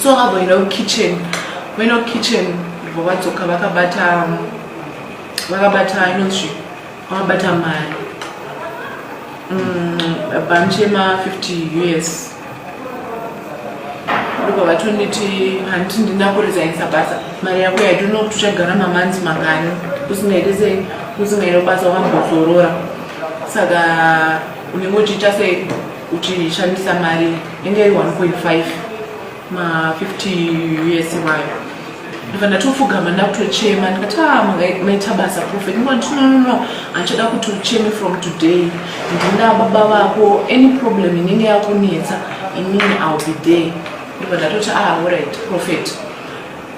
so vakavoenda kukitchen voenda kukitchen vo vadzoka vakabata vakabata inozvi vakabata mari mm, bhanchi yema 50 us ndobva vatonditi handiti ndina kurezainisa basa mari yako yaitono kuti uchagara mamanzi mangani usingaite se usingaite basa wambozorora saka unenge uchiita sei uchishandisa mari inge iri 1.5 ma 50 us iwayo ndibva ndatofugama ndakutochema ndikati a ah, maita basa profet ndikati no no no handichada kuti ucheme from today ndina baba vako any problem inenge yakunetsa inini ill be there ndibva ndatoti a ah, orit profet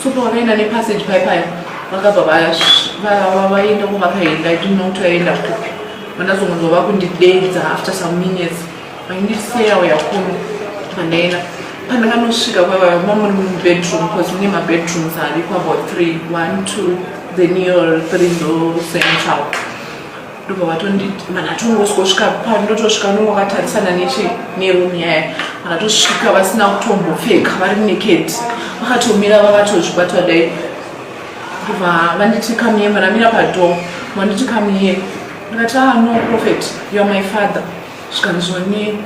Tsupa wakaenda nepassage pai paya vakabva vaenda kwavakaenda i didn't know kuti vaenda kupi vandazongonzwa vakundidedza after some minutes vaindiseya uya kuno pandaenda pandakanosvika kwavava mamuri mubedroom bcause mune mabedrooms ariko about three one two then your three ndo central ndobva vatonditi mana tongosvika pano ndotosvika nongo vakatarisana neche nerum yaya vakatosvika vasina kutombopfeka vari naked vakatomira vakatozvibatwa dai ndobva vanditi kamiye manamira padoo vanditi kamiye ndikati ah no prophet you are my father zvikanzoni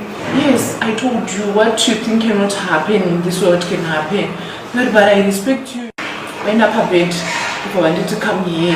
yes i told you what you think cannot happen in this world can happen ndikati but i respect you vaenda pabed ndobva vanditi kamiye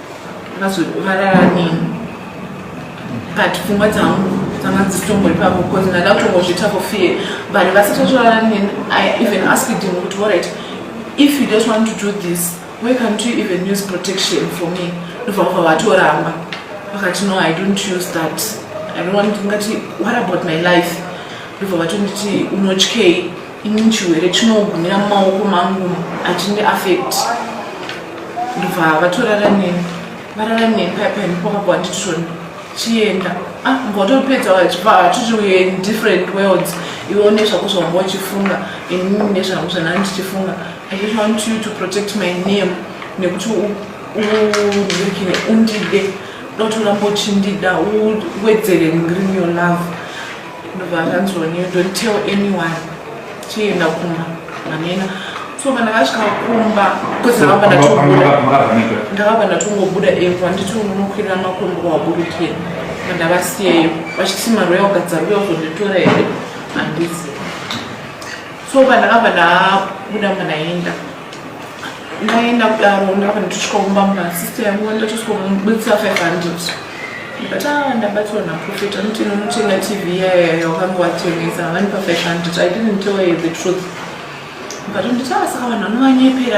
Mazovarara nini? But pfungwa dzangu dzanga dzisitombori pavo because ndada kutongozviita for fear. But vasati vatorara nini, I even asked him kuti all right, if you just want to do this, why can't you even use protection for me? Ndobva vabva vatoramba. Vakati no, I don't use that. I don't want to, what about my life? Ndobva vatonditi unotyei? ini chiwere chinogumira mumaoko mangu achindi affect ndobva vatorara neni varara neni paya paya ndipo vakabva vanditishona chienda ah ngotopedza vachibva hatiti uye in different worlds iwo nezvako zvavanga uchifunga inini nezvangu zvanaa ndichifunga i just want you to protect my name nekuti uekine undide dotoramba uchindida uwedzere ngrini your love ndobva akanzi one you don't tell anyone chienda kumba manena so kana vasvika kumba ndakabva ndatongobuda epo anditi unokwirira makombo waburukira mandavasiyeyo vachiti maroya ugadza ruya uzonditora here handizi so pandakabva ndabuda manaenda ndaenda kudaro ndava ndichisvika kumba muna sister yangu ndachosvikomuburitsa 500 but ah ndabatswa naprofet anoti nonotenga tv iyayo yakange watengesa havani pa 500 i didn't tell her the truth but nditi ah saka vanhu vanovanyepera